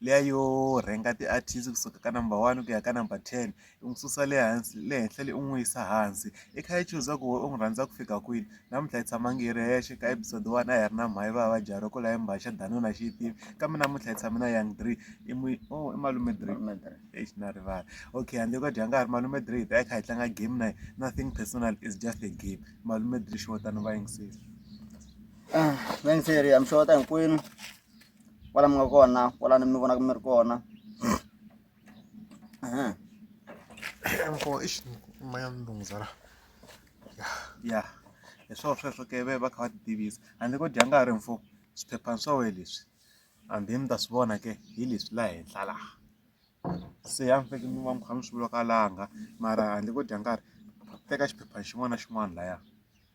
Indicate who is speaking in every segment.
Speaker 1: liya yo rhenga ti-artist kusuka ka number one ku ya ka number ten u n'wi susa le hansi le henhla le u n'wi yisa hansi i kha i chuza ku wena u n'wi rhandza ku fika kwini namuntlha hi tshama ngi hi ri hexe ka episode one a hi ri na mhayi va va jara ku la hi mbaxa danuna xi yi tivi kambe namuntlha hi tshame na young dree i mui o i malume dree exi na rivala okay handle ko dya nga ha ri malume dree hi ta hi kha hi tlanga game na nothing personal is just a game malume dree xi wotani va yingiseli va yingiseri
Speaker 2: ya mi xeweta hinkwenu kwala mi nga kona kwala ni mi vonaka mi ri kona
Speaker 1: mkhoa ixi maya ni lunghisa la ya ya hi swo sweswo ke ve va kha va ti tivisa handle ko dya nkarhi mfo swiphephana swa wehe leswi hambi mi ta swi vona ke hi leswi la henhla laha se ya mi feke mi va mi kha mi swi vulaka langa mara handle ko dya nkarhi teka xiphephana xin'wana na xin'wana laya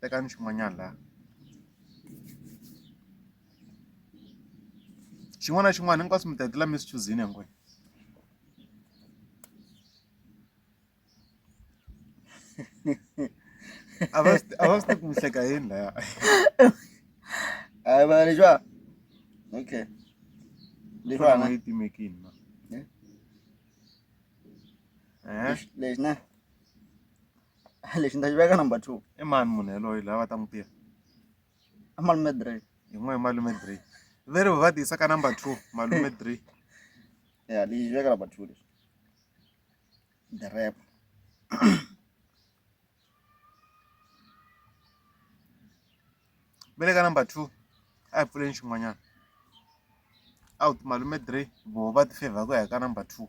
Speaker 1: tekani xin'wanyana laha xin'wana na xin'wana hinkwaswo mi ta hetelela mi swi chuzini hinkwenu a va swi a va swi tivi ku mi hleka yini laya
Speaker 2: hayi vana leswiwa okay
Speaker 1: leswiwa na yi timekini na Eh? lexi
Speaker 2: lexi na lexi ni ta xi veka number two i mani munhu yaloye
Speaker 1: loyi a va ta n'wi tiva a
Speaker 2: malume dray yin'wana hi malume
Speaker 1: dray very va ti yisa ka number two malume dray ya
Speaker 2: lexi veka number two lexi the rap
Speaker 1: ve le ka number two a hi pfuleni xin'wanyana a wu ti malume dray voho va ti favor ku ya ka number two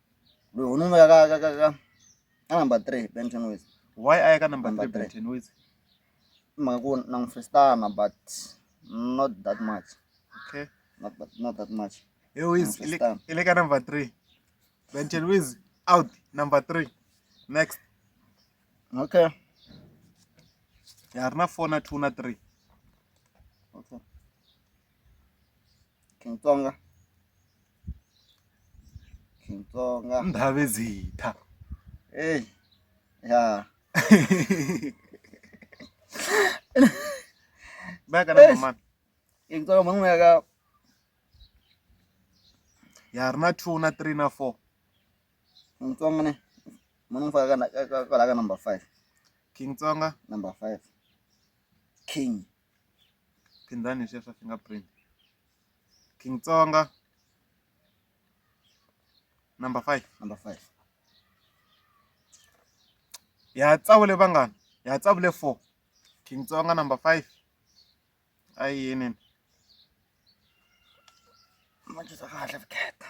Speaker 2: Loyi ho n'wi veka ka ka ka ka ka number three Ben Tenwezi. Why a ya ka number
Speaker 1: Number three Ben three. Tenwezi? I mhaka ku
Speaker 2: na n'wi festana but not that much Okay.
Speaker 1: not that, not that
Speaker 2: much. Hey Wiz, Number ile
Speaker 1: star. ile ka number three. Ben Tenwezi out number three. Next.
Speaker 2: Okay.
Speaker 1: Ya ri na four na two na three.
Speaker 2: Okay. King Tsonga.
Speaker 1: King Tsonga. Ndabezitha. Hey. Yeah. Baka na mama. King Tsonga mangwe
Speaker 2: ya ka
Speaker 1: ya ri na 2 na 3 na 4 King
Speaker 2: Tsonga ne munu fa ka ka ka number 5 King Tsonga
Speaker 1: number 5
Speaker 2: King
Speaker 1: phindani leswiya swa finger print king tsonga number five number
Speaker 2: five
Speaker 1: ya tsavule vanghana ya tsavule four king tsonga number five a yi yinini
Speaker 2: ma kahle vukheta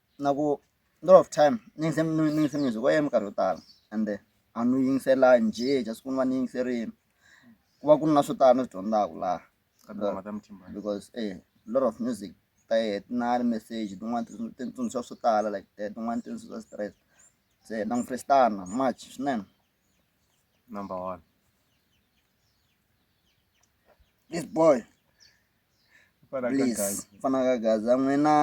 Speaker 2: na ku lot of time ni yingise ni yingise music wa yena minkarhi yo tala ende a ni wu yingisela njhe just ku ni va ni yingiserile ku va ku ri na swo tala ni swi dyondzaka laha ka tinghoma ta mutimba because a lot of music ta yehe ti na message tin'wana ti ti ni tsundzuxa swo tala like that tin'wana ti ni tsundzuxa stress se na n'wi freestana much swinene
Speaker 1: number one
Speaker 2: This boy. Fana Please. kagazi. Fana kagazi. Amwena.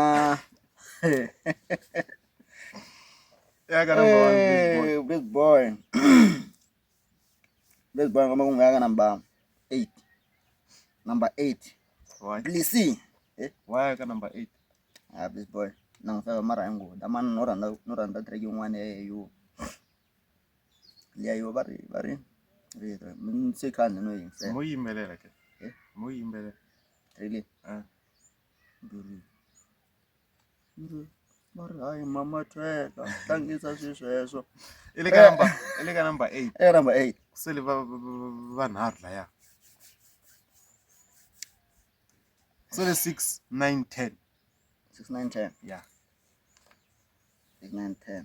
Speaker 1: Yaka number one, big boy. Hey,
Speaker 2: big boy. big boy ngoma kungu yaka number 8. Number 8.
Speaker 1: Why? Please see. Eh? Why yaka number 8? Ah, big boy.
Speaker 2: Nangifeka mara yangu. Damani noranda noranda tracking one eh you. liyayiwa va ri va ri ri ri mintsekani no yingisela mo yimbelela ke
Speaker 1: Eh? mo yimbelela really
Speaker 2: Ah. Ndhuri. Ndhuri. va ri hayi mama thweka tlangisa swi sweswo i le ka
Speaker 1: number i le ka number eight eka number eight sele va
Speaker 2: va-
Speaker 1: va- vanharhu laya sele six nine ten six nine
Speaker 2: ten ya six
Speaker 1: nine
Speaker 2: ten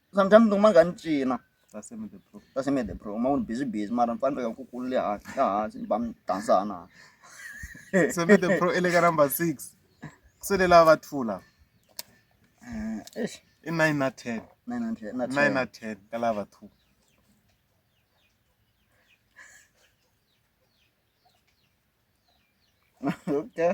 Speaker 2: sometimes ni kuma ni kha ni cina
Speaker 1: ka semede pro uma ni busy
Speaker 2: busy mara ni fane ni veka nkukulu le hansi la hansi ni ba mi dansana
Speaker 1: semede pro i le ka number six ku sele lava va two lava eh, i nine na ten nine na ten ka lava two
Speaker 2: okay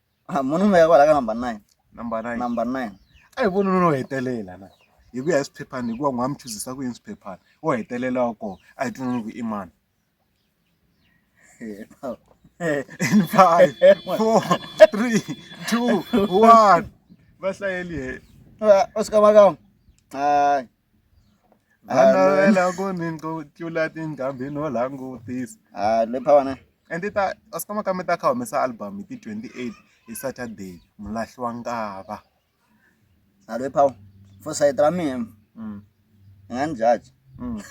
Speaker 2: Ah, munhu un'we ya kwala ka number nine number nine number
Speaker 1: nine a hi voni nuna wo hetelela na hi ku ya hi swiphephani hikuva n'wa mi chuzisa ku yini swiphephani wo hetelela wa kona a hi tinoni ku i mani Eh, no. Eh, in five four three two one va hlayeli he va- u swi kama kama
Speaker 2: hayi a
Speaker 1: navela ku ni tlula tinqambi no langutisa a le phawana
Speaker 2: and ti ta a swi
Speaker 1: kama ka mi ta kha humesa album hi ti 28 hi saturday mulahli wa nkava
Speaker 2: a le phawa for side ra mina mm. i nga ni jaji mm.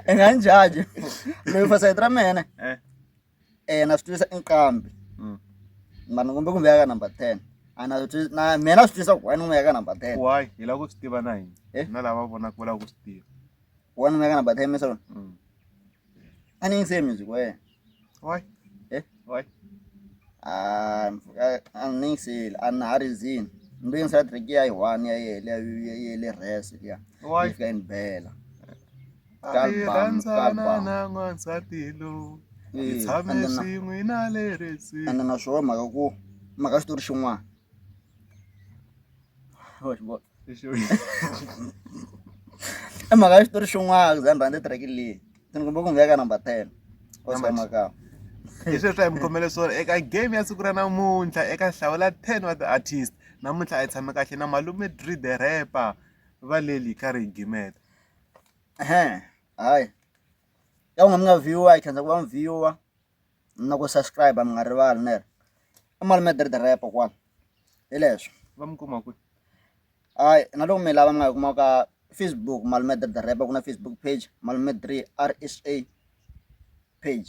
Speaker 2: i nga ni jaji loyi for side ra mina eh. eh na swi tivisa i nqambi Mm. mara ni kombe ku veka number 10 a na swi tivisa- na mina na swi tivisa ku why ni n'wi veka number 10 why hi lava ku swi tiva
Speaker 1: na hina Eh? na lava vonaka va lava ku swi tiva why ni n'wi veka
Speaker 2: number 10 misolo Mm. a ni yingiseli music wa yena why
Speaker 1: Eh? why Ah, mfika-
Speaker 2: a ni yingiseli a na ha ri zini ni lo yingisela track ya yi one ya yele ya yele rest liya why ni fika yi ni
Speaker 1: bela
Speaker 2: Hi rhandzana
Speaker 1: na n'wansati lowu hi tshame swin'we na le restini ende na swona mhaka ku
Speaker 2: mhaka xitori xin'wana i mhaka ya xitori xin'wana za ni rhandza tirheki leyi ndzi ni kumbe ku ngheka number ten osamakama
Speaker 1: hi sweswi a hi mi khomele swona eka game ya siku ra namuntlha eka hlawula ten wa ti-artist namuntlha a yi tshame kahle na malume dri the rapper valeli ka rigimeta Ehe, hayi
Speaker 2: ya unga mi nga viewer hi khensa ku va mi viewer na ku subscribe mi nga rivali nere i malume dirdirepo kwala hi leswi va mi kuma
Speaker 1: kwihi hayi
Speaker 2: na loko mi lava mi nga yi kuma ka facebook malume dirdirepo ku na facebook page malume three r s a page